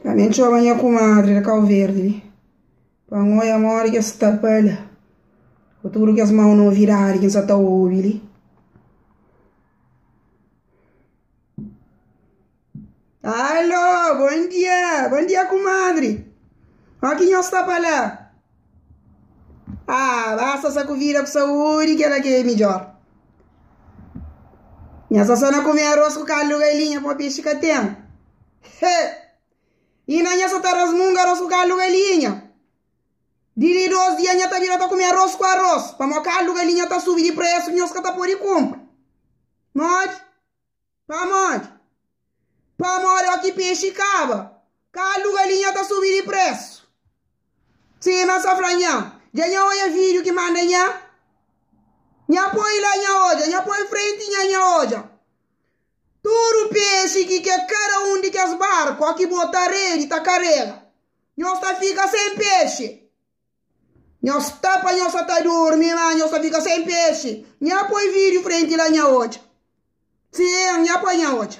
Ami N txoma nha kumadri di kau verdi li pa N oia modi ki es sta pa la ku tudu kes mau novidadi ki N sa ta obi li Alô, bon dia, bon dia kumadri, óki nhos sta pa la. Ah, basta sa ku vida ku saúde, que ela que é melhor. Nha sasó na comer arroz com caldo galinha com peixe que tem. He! E na nha só tá rasmunga arroz com caldo galinha. De de dois dias nha tá vira tá comer arroz com arroz. Para mó caldo galinha tá subi de preço, nós que tá pode compra. Nós Pamodi? Pamodi oki pexi kaba, kaldu galinha ta subi di presu. Sima sa fla nha, dja nha odja vidiu ki manda nha, nha poi la nha odja, nha poi frenti nha, nha odja tudu pexi ki ke kada un di kes barku oki bota redi ta karega, nhos ta fika sen pexi. Nhos sta pa nhos sa ta durmi ma nhos ta fika sem pexi nha poi vidiu frenti la nha odja sim nha poi nha odja.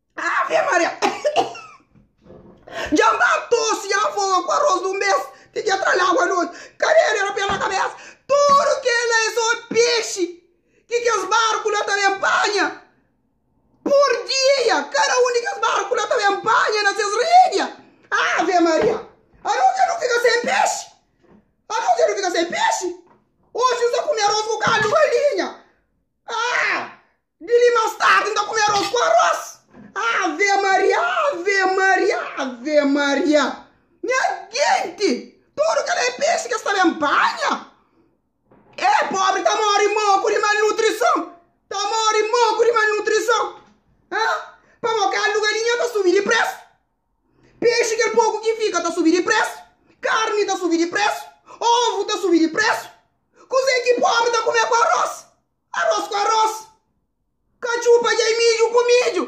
Ave Maria! Dja ba tosi ya foga ku aros dun bes ti ki atra lagu anoti. Kabelu era pena kabesa. Tudu kela e so pexi ki kes barku la ta ben panha. Pur dia kada un di kes barku la ta ben panha na ses redia. Ave Maria! Anoti dja nu fika sen pexi. Anoti dja nu fika sen pexi. Oxi N sta kume aros ku kaldu galinha. Ah! Di li más tardi, N ta kume arós ku arós. Ave Maria, Ave Maria, Ave Maria, nha genti, tudu kel EPS ki es ta ben panha, é pobri, ta móre moku di malnutrison, ta móre moku di malnutrison. Ha? Pamodi kalu galinha ta subi di présu, pexi kel poku ki fika ta subi di présu, karni ta subi di présu, ovu ta subi di présu, kuzê ki pobri ta kume ku arós? Aros ku aros. Katxu pa dja i midju ku midju.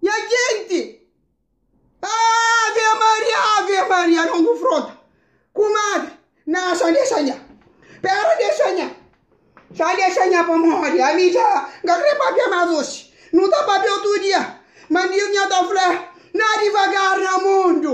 Nha djenti! Ave Maria, Ave Maria, non kunfronta. Kumadri, na san dexa nha. Pera dexa nha. San dexa nha pamodi ami dja N ka kre papia mas oxi. Nu ta papia otu dia. Mandiu nha ta fla, Na divagar na mundu.